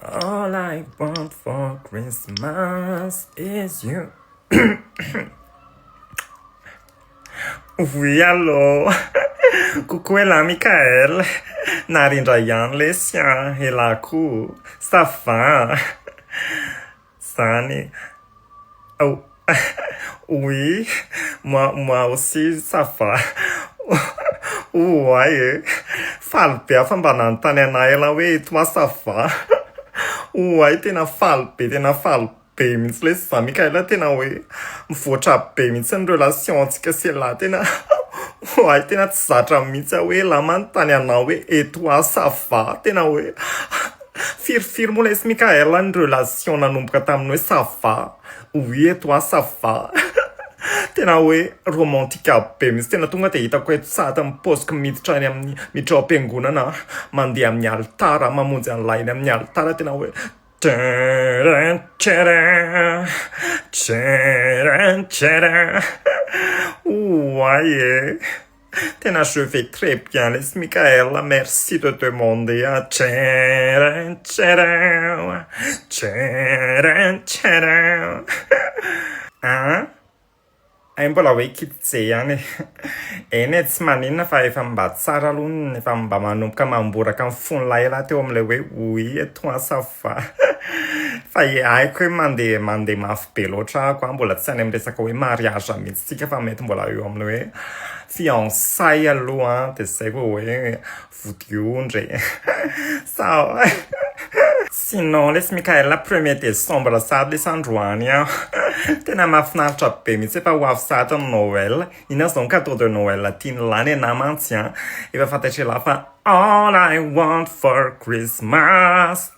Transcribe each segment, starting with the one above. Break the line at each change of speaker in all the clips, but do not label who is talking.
All I want for Christmas is you Oui allô Coucou elah Mickaël Narindray ihany lesy an! Elah koa! Ça va? zany oh oui moi moi aussi ça va ouai e faly be aho fa mba nanontany anah elah hoe et toi ça va ouai tena faly be tena faly be mihitsy lesy za Mickaël tena hoe mivoatra be mihitsy ny relation ntsika sy elah tena ouai tena tsy zatra mihitsy aho hoe elah manontany anao hoe et toi ça va tena hoe Firy firy moa lesy Mickaël a ny relation nanomboka tamin'ny hoe ça va, oui et toi ça va Tena hoe romantika be mintsy Tena tonga dia hitako eto sahady amin'ny paoziko miditra any amin'ny miditra ao am-piangonana aho mandeha amin'ny alitara mamonjy an'ilay eny amin'ny alitara tena hoe Tcharam tcharam Tcharam tcharam Ouay e. Tena je vais très bien lesy Mickaël a merci de demander a tchairrin tchairrin a tchairrin tchairrin a an hay mbola hoe kitj ihany e eny e tsy maninona fa efa mba tsara aloha ny efa mba manomboka mamboraka ny fon'ilay lahy teo amin'ilay hoe oui et toi ça va fa haiko hoe mandeha mandeha mafy be loatra ako a, mbola tsy any amin'ny resaka hoe mariage mihitsy tsika fa mety mbola eo amin'ny hoe fiançailles aloha an, dia zay vao hoe vodiondry e sao sinon lesy Mickaël premier décembre sahady lesy androany an, tena mahafinaritra be mihitsy efa ho avy sahady ny Noël, inona zao ny cadeau de Noël tian'i lahy nenahy mantsy an, efa fantatr'i lahy fa all I want for Christmas.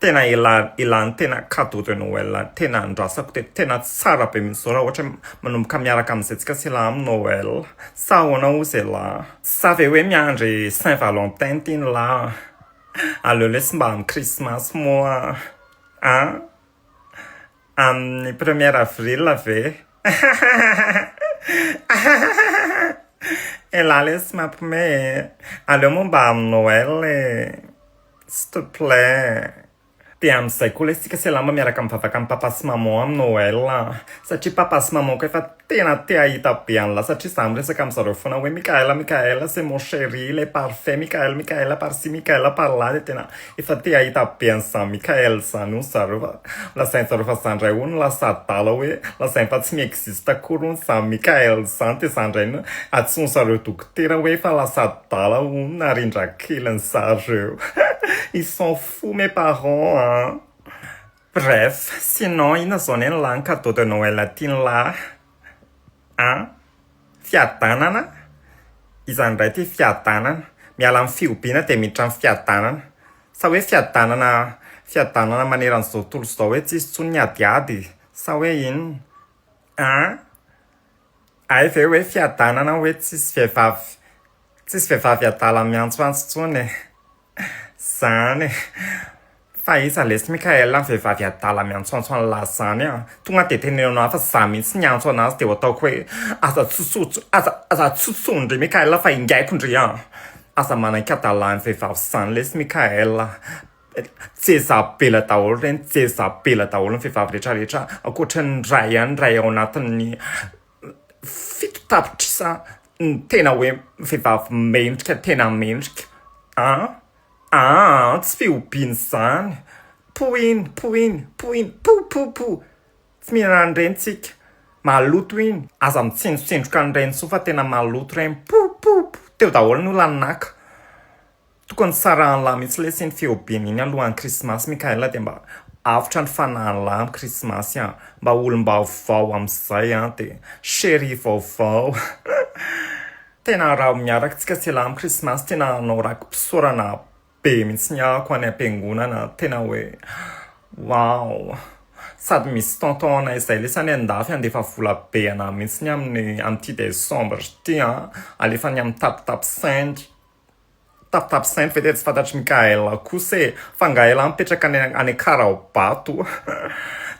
Tena ela ela ny tena cadeau de Noël tena andrasako teto tena tsara be mintsy zao raha ohatra hoe manomboka miaraka amin'izay tsika sy elah amin'ny Noël sa ahoana ozy elah? Sa ve hoe miandry saint valentin ty ny lahy an! aleo lesy mba amin'ny krismasy moa an! amin'ny premier avril ve? ahahahahahaha! elah lesy mampme e! aleo moa mba amin'ny Noël e! S'il te plait. Dia amin'izay koa lesy tsika selama miaraka mivavaka an'i papa sy maman amin'ny noel a! satria papa sy maman-ko efa tena te hahita be an'lah satria za miresaka amin-dry zareo foana hoe Mickaël a Mickaël a c'est mon chéri le parfait Mickaël Mickaël a par ci Mickaël a par là dia tena efa te hahita be an'izany Mickaël izany hono zareo fa lazain-dry zareo fa za indray hono lasa adala hoe lazainy fa tsy mi-existe akory hono izany Mickaël izany dia za indray no antsoin-dry zareo dok Tena hoe efa lasa adala hono na rindrakeliny zareo ils sont fous mes parents a! Bref, sinon inona zao anie ny lahy ny cadeau de Noël tiany lahy a! Fiadanana? Izany indray ity fiadanana? Miala amin'ny fihobiana dia miditra amin'ny fiadanana? Sa hoe fiadanana fiadanana maneran'izao tontolo izao hoe tsisy intsony ny adiady sa hoe inona a! Hay ve hoe fiadanana hoe tsisy vehivavy tsisy vehivavy adala miantsoantso intsony e! Zany e! Fa iza lesy Mickaël ny vehivavy adala miantsoantso an'lah zany an! Tonga dia teneno aho fa za mihitsy niantso anazy dia ataoko hoe aza atsotsotsotso aza aza atsotsotsotso ndry Mickaël fa ingaiko ndry an! Aza manaikadala ny vehivavy zany lesy Mickaël a! Jezabela daholo ireny, Jezabela daholo ny vehivavy rehetra rehetra, ankoatra ny iray ihany, iray ao anatin'ny fito tapitrisa ny tena hoe vehivavy mendrika, tena mendrika an! an! tsy fihobiana izany, poiny, poiny, poiny, po! po! po! tsy mihinana an'ireny tsika, maloto iny, aza mitsindrotsindroka an'ireny intsony fa tena maloto ireny, po! po! po! teo daholo ny olan'ny naka. Tokony tsarahan'lah mihitsy lesy iny feobeny iny alohan'ny krismasy Mickaël dia mba avotra ny fanahin'lah amin'ny krismasy an! mba olom-baovao amin'izay an! dia cherie vaovao Tena araho miaraka tsika sy elah amin'ny krismasy Tena hanao raki-pisaorana be mihitsy ny ahako any am-piangonana Tena hoe waouh Sady misy tonton anay izay lesy any an-dafy handefa vola be anah mihitsy amin'ny amin'ity décembre ity an! alefany amin'ny tapitapy send. Tap tap saint ve dia tsy fantatry Mikael kosa e! Fa Ngael mipetraka any any Akara ao Bato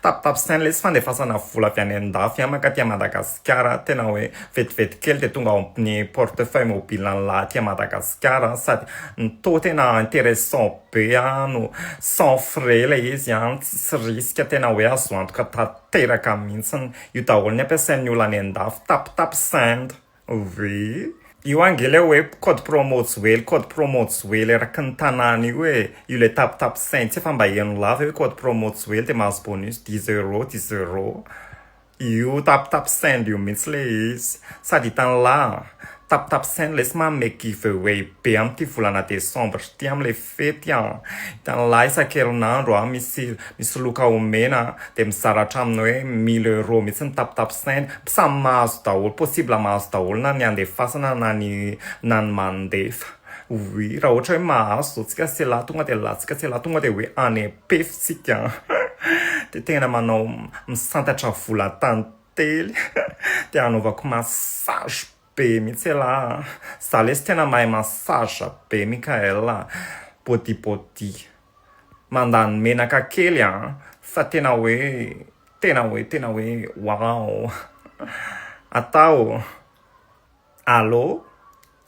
tap tap saint lesy fandefasana vola avy any andafy any mankaty Madagasikara tena hoe vetivety kely dia tonga ao amin'ny porte feuille mobile an'i lahy aty Madagasikara sady toa tena interessant be no sans frais ilay izy an! tsisy risque tena hoe azo antoka tanteraka mihitsy io daholo ny ampiasain'ny olona any andafy tap tap saint. Ouvee. Io ange ilay hoe code promo tsy ho ela, code promo tsy ho ela eraky ny tanàna io e, io ilay tape tape saint tsy efa mba heno lava io hoe code promo tsy ho ela dia mahazo bonus dix euros dix euros, io tape tape saint io mihitsy ilay izy, sady hitan'lah an, tape tape saint ilay tsy manome give away be amin'ity volana décembre ity amin'ilay. Fety an! Hitan'ilay isan-kerinandro an, misy misoloka omena an, dia mizara hatramin'ny hoe mille euros mihitsy ny tapitapisainy, samy mahazo daholo, possible mahazo daholo na ny andefasana na ny na ny mandefa, oui, raha ohatra hoe mahazo zao tsika sy elah tonga dia elah, tsika sy elah tonga dia hoe any am-pefy tsika an! dia tena manao misantatra vola tantely dia anaovako massage. Be mihitsy elah a! Za lesy tena mahay massage be Mickaël a! Body body! Mandany menaka kely a! Fa tena hoe tena hoe tena hoe waouh! Atao! Allô?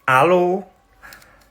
Allô?